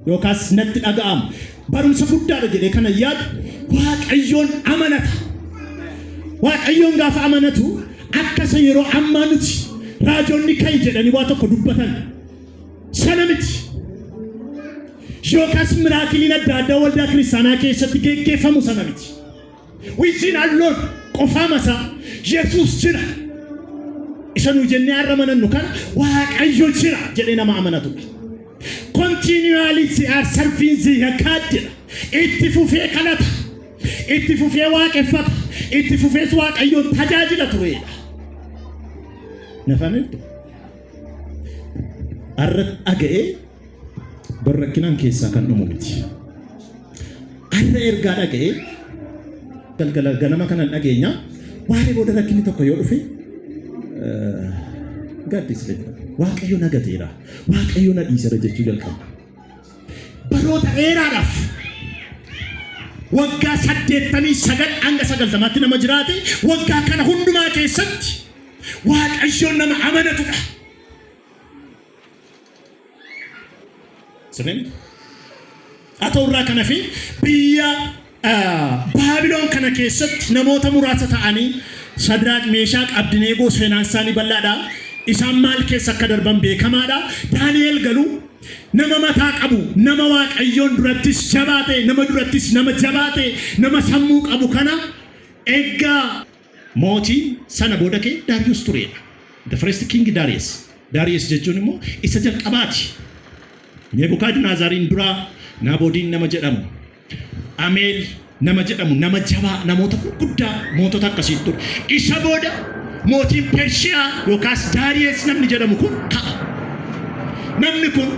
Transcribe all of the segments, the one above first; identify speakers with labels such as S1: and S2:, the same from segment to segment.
S1: yookaas natti dhaga'ama. Barumsa guddaadha jedhee kana yaadu Waaqayyoon amanata. Waaqayyoon gaafa amanatu akka isa yeroo ammaa nuti raajonni ka'i jedhanii waa tokko dubbatan sana miti. Yookaas miraakiliin adda addaa waldaa kiristaanaa keessatti geggeeffamu sana miti. Within alone qofaama isaa Yesuus jira. Isa nu jennee har'a amanannu kana Waaqayyo jira jedhee nama amanatudha. Continually they are serving the God jedha. Itti fufee kadhata. Itti fufee waaqeffata. Itti fufees Waaqayyoon tajaajila tureedha. Nafametti. Har'a dhaga'ee Bar rakkinaan keessaa kan dhumu miti. Har'a ergaa dhaga'ee galgala ganama kanan dhageenya waaree booda rakkinni tokko yoo dhufe gaaddisa waaqayyo na gateera waaqayyo na dhiisera jechuu jalqaba. Baroota dheeraadhaaf waggaa saddeettamii sagal hanga sagaltamaatti nama jiraate waggaa kana hundumaa keessatti waaqayyoon nama amanatudha. Sirriin? Haa ta'u irraa kana fi biyya ah, Baabiloon kana keessatti namoota muraasa ta'anii Shadraaq, Meeshaaq, Abdineegoo seenaan isaanii bal'aadha. Isaan maal keessa akka darban beekamaadha. Daani'el garuu nama mataa qabu, nama Waaqayyoon durattis jabaate, nama durattis nama jabaate, nama sammuu qabu kana eeggaa Mootiin sana booda kee Daariyus tureedha. The first king Darius. Darius jechuun immoo isa jalqabaati. Nebukadnezariin duraa Naaboodiin nama jedhamu, Ameel nama jedhamu, nama jabaa, namoota gurguddaa mootota akkasii ture. Isa booda mootiin Pershiyaa yookaas Daariyus namni jedhamu kun ka'a. Namni kun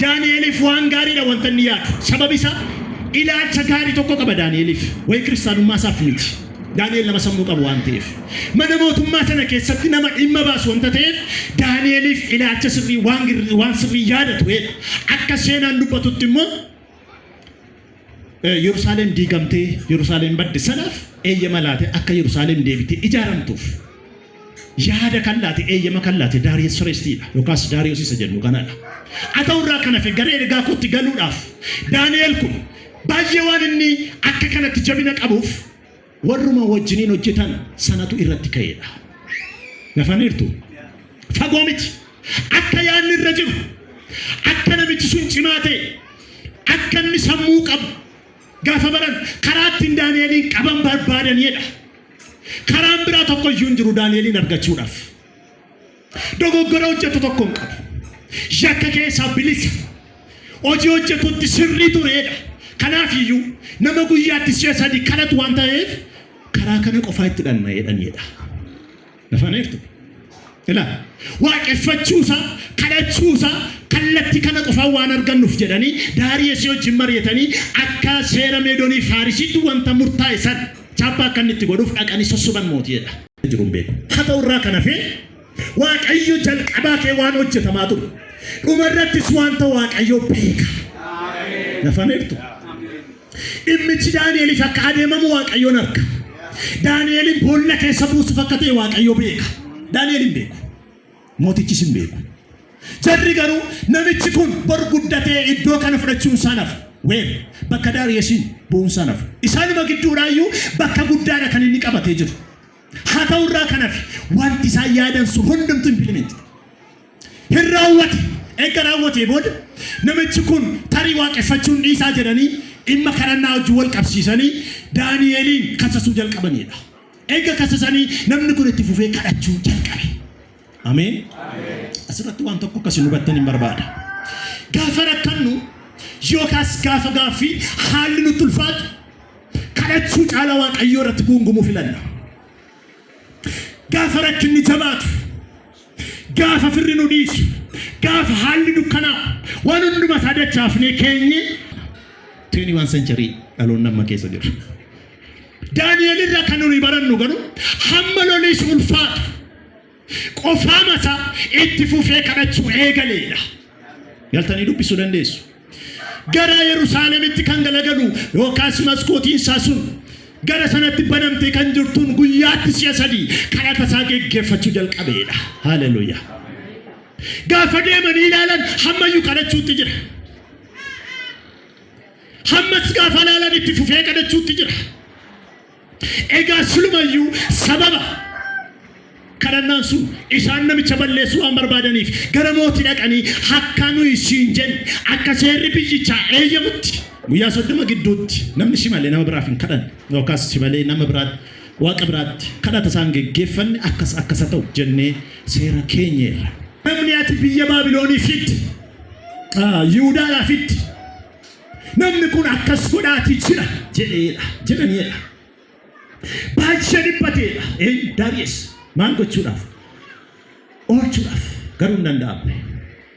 S1: Daani'eliif waan gaariidha wanta inni yaadu. Sababi isaa ilaalcha gaarii tokko qaba Daani'eliif. Waa'ee kiristaanummaa isaaf miti. Daani'el nama sammuu qabu waan ta'eef. Mana mootummaa sana keessatti nama dhimma baasu wanta ta'eef Daani'eliif ilaalcha sirrii waan, waan sirrii yaada tureedha. Akka seenaan dubbatutti immoo Yerusaalem diigamtee Yerusaalem badde sanaaf eeyyama laate akka Yerusaalem deebitee ijaaramtuuf yaada kan laate eeyyama kan laate Daariyees Soreestiidha yookaas Daariyoos isa jennu kanadha. Haa ta'u irraa kan hafe gara ergaa kootti galuudhaaf Daani'eel kun baay'ee waan inni akka kanatti jabina qabuuf Warruma wajjiniin hojjetan sanatu irratti ka'eedha. Nafaniirtu. Fagoo miti. Akka yaadni irra jiru. Akka namichi sun cimaa ta'e. Akka inni sammuu qabu. Gaafa baran karaa ittiin Daani'eliin qaban barbaadaniidha. Karaan biraa tokko iyyuu hin jiru Daani'eliin argachuudhaaf. Dogoggora hojjetu tokko hin qabu. Yakka keessaa bilisa. Hojii hojjetutti sirrii tureedha. Kanaaf iyyuu nama guyyaatti si'a sadii kadhatu waan ta'eef karaa kana qofaa itti dhandha'eedhanidha. Nafaneertu. Ilaa waaqeffachuusaa kadhachuusaa kallattii kana qofaa waan argannuuf jedhanii daarii isii wajjin mari'atanii akka seera meedoonii faarisiitti wanta murtaa'e san chaappaa akka inni itti godhuuf dhaqanii sossoban mootiidha. jiru hin beeku. Haa ta'u irraa kan hafe Waaqayyo jalqabaa kee waan hojjetamaa ture. Dhuma irrattis wanta Waaqayyo beeka. Nafameertu. Dhimmichi Daani'eliif akka adeemamu Waaqayyoon arka. Daani'eliin boolla keessa buusuuf akka ta'e Waaqayyo beeka. Daani'el hin beeku. Mootichis hin beeku. Jarri garuu namichi kun bor guddatee iddoo kana fudhachuun isaa hin hafu. Ween bakka Daariyesiin bu'uun isaa hin hafu. Isaanuma gidduudhaayyuu bakka guddaadha kan inni qabatee jiru. Haa ta'u irraa kan hafe wanti isaan yaadan sun hundumtu impilimeenti. Hin raawwate. Erga raawwatee booda namichi kun tarii waaqeffachuun dhiisaa jedhanii dhimma kadhannaa wajjin wal qabsiisanii Daani'eliin kasasuu jalqabaniidha. Eega kasasanii namni kun itti fufee kadhachuu jalqabe. Ameen. Asirratti waan tokko akkasi hubattan hin barbaada. Gaafa rakkannu yookaas gaafa gaaffii haalli nutti ulfaatu kadhachuu caalaa waaqayyoo irratti guungumuu filanna. Gaafa rakkinni jabaatu, gaafa firri nu dhiisu, gaafa haalli dukkanaa waan hundumaa isaa dachaafnee keenye 21 century dhaloonni amma keessa jiru. Daani'el irra kan nuyi barannu garuu hamma loliis ulfaatu qofaama isaa itti fufee kadhachuu eegaleedha. Galtanii dubbisuu dandeessu. Gara Yerusaalemitti kan galagalu yookaas maskootiin isaa sun gara sanatti banamtee kan jirtuun guyyaatti si'a sadii kadhata isaa geggeeffachuu jalqabeedha. Haleluuyaa. Gaafa deemanii ilaalan hammayyuu kadhachuutti jira. Hammas gaafa laalan itti fufee kadhachuutti jira. Egaa silumayyuu sababa kadhannaan sun isaan namicha balleessuu waan barbaadaniif gara mootii dhaqanii hakkaa nuyi siin jenne akka seerri biyyichaa eeyyamutti guyyaa soddoma gidduutti namni si malee nama biraaf hin kadhanne yookaas si malee nama biraatti waaqa biraatti kadhata isaan geggeeffanne akkas akkasa ta'u jennee seera keenyeerra. Namni ati biyya Baabiloonii fidde Yihudaa laafitti namni kun akkas godhaati jira jedheedha jedhaniidha. Baay'ee dhiphateedha. Ee Daariyes maal gochuudhaaf? Oolchuudhaaf garuu hin danda'amne.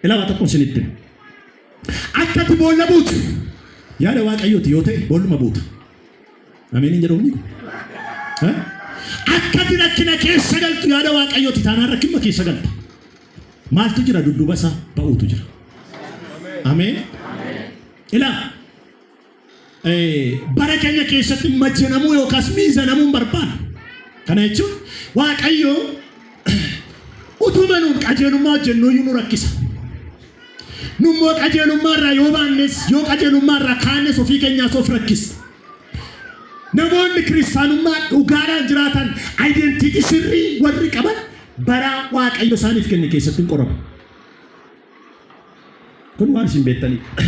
S1: Ilaalaa tokko isinitti hima. Akka ati boolla buutu yaada waaqayyooti yoo ta'e boolluma buuta. Ameen hin jedhu kun. Akka ati rakkina keessa galtu yaada waaqayyooti taanaan rakkinuma keessa galta. Maaltu jira dudduuba isaa ba'uutu jira. Ameen. Ilaa eh, bara keenya keessatti majanamuu yookaas miizanamuu hin barbaadu. Kana jechuun Waaqayyo utuma nuun qajeelummaa hojjennuu iyyuu nu rakkisa. Nummoo qajeelummaa irraa yoo baannes yoo qajeelummaa irraa kaannes ofii keenyaas of rakkisa. Namoonni kiristaanummaa dhugaadhaan jiraatan identiitii sirrii warri qaban bara Waaqayyo isaaniif kenne keessatti hin qoramu. Kun waan isin beektaniidha.